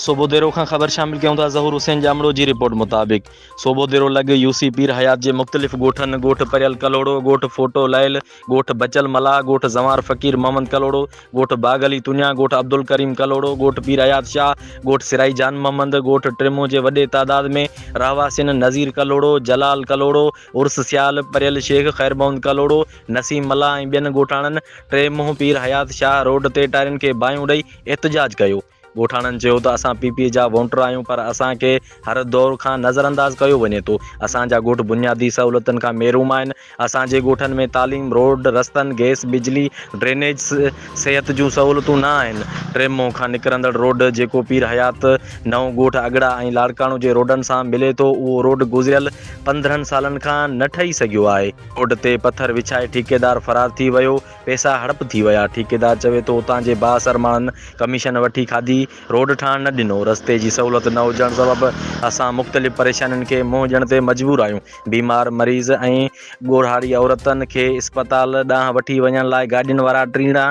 صوبو ديرو کان خبر شامل ڪيون ٿا ظهور حسين ڄامڙو جي رپورٽ مطابق صوبو ديرو لڳ يو سي پير حيات جي مختلف ڳوٺن ڳوٺ پريل ڪلهوڙو ڳوٺ ڦوٽو لعل ڳوٺ بچل ملاح ڳوٺ زنوار فقير محمد ڪلهوڙو ڳوٺ باغ علي تنيا ڳوٺ عبدالڪريم ڪلهوڙو ڳوٺ پير حيات شاهه ڳوٺ سرائي جان محمد ڳوٺ ٽرمون جي وڏي تعداد ۾ رهواسين نظير ڪلهوڙو جلال ڪلهوڙو عرس سيال پريل شيخ خير محمد ڪلهوڙو نسيم ملاح ۽ ٻين ڳوٺاڻن ٽي منهن پير حيات شاهه روڊ تي ٽائرن کي باهيون ڏئي احتجاج ڪيو ڳوٺاڻن چيو ته اسان پي پي جا وونٽر آهيون پر اسان کي هر دور کان نظر انداز ڪيو وڃي ٿو، اسان جا ڳوٺ بنيادي سهولتن کان محروم آهن، اسان جي ڳوٺن ۾ تعليم، روڊ، رستن، گئس، بجلي، ڊرينيج، صحت جون سهولتون نه آهن، ٽي مون کان نڪرندڙ روڊ جيڪو پير حيات، نئون ڳوٺ اڳڙا ۽ لاڙڪاڻو جي روڊن سان ملي ٿو اهو روڊ گذريل پندرهن سالن کان نه ٺهي سگهيو آهي، روڊ تي پٿر وڇائي ٺيڪيدار فرار ٿي ويو، پئسا هڙپ ٿي ويا. ٺيڪيدار چوي ٿو اتان جي بااثر ماڻهن ڪميشن وٺي کاڌي، روڊ ٺاهڻ نه ڏنو. رستي جي سهولت نه هجڻ سبب اسان مختلف پريشانين کي منهن ڏيڻ تي مجبور آهيون. بيمار مريض ۽ ڳوڙهاري عورتن کي اسپتال ڏانهن وٺي وڃڻ لاء گاڏين وارا ٽيڻا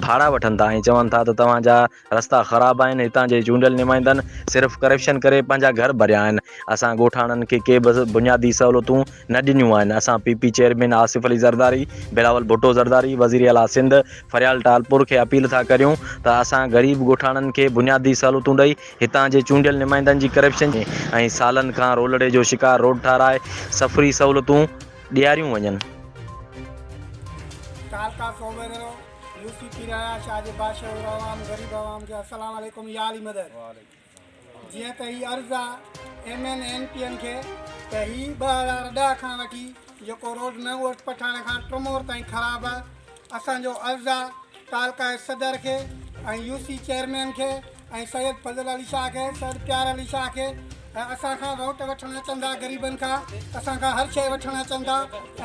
ڀاڙا وٺن ٿا ۽ چون ٿا ته توهان جا رستا خراب آهن هتان جي چونڊيل نمائندن صرف ڪرپشن ڪري پنهنجا گهر ڀريا آهن اسان ڳوٺاڻن کي ڪي به بنيادي سهولتون نه ڏنيون آهن اسان P P chairman Asif Ali Zardari Bilawal Bhutto Zardari وزير اعليٰ سنڌ فريال ٽالپور کي اپيل ٿا ڪريون ته اسان غريب ڳوٺاڻن کي بنيادي سهولتون ڏئي هتان جي چونڊيل نمائندن جي ڪرپشن جي ۽ سالن کان رولڙي جو شڪار روڊ ٺاهرائي سفري سهولتون ڏياريون وڃن. ڪالڪا ڪوميرو يو سي پير آيا شاهه جي بادشاهه اور عوام غريب عوام کي السلام عليڪم يا علي مدد جيئن ته هي عرض آ M N N P N کي ته هي ٻه هزار ڏهه کان وٺي جيڪو روڊ نئون ارس پٺاڻ کان ٽرمور تائين خراب آ اسان جو عرض آ تعلقائي صدر کي ۽ يو سي چيئرمين کي ۽ سيد فضل علي شاهه کي سيد پيار علي شاهه کي ۽ اسان کان روٽ وٺڻ اچن ٿا غريبن کان اسان کان هر شيء وٺڻ اچن ٿا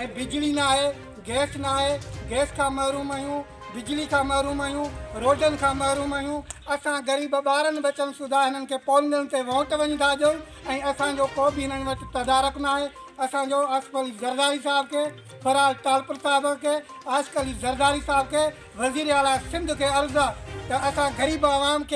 ۽ بجلي ناهي گئس ناهي گئس کان محروم آهيون بجلي کان محروم آهيون روڊن کان محروم آهيون اسان غريب ٻارن ٻچن سوڌا هنن کي پونگل تي ووٽ وڃي ٿا ڏيون ۽ اسان جو ڪو به هنن وٽ تدارڪ ناهي اسان جو آصف علي زرداري صاحب کي فراز ٽالپر صاحب کي عاشق علي زرداري صاحب کي وزير اعليٰ سنڌ کي عرض آهي ته اسان غريب عوام کي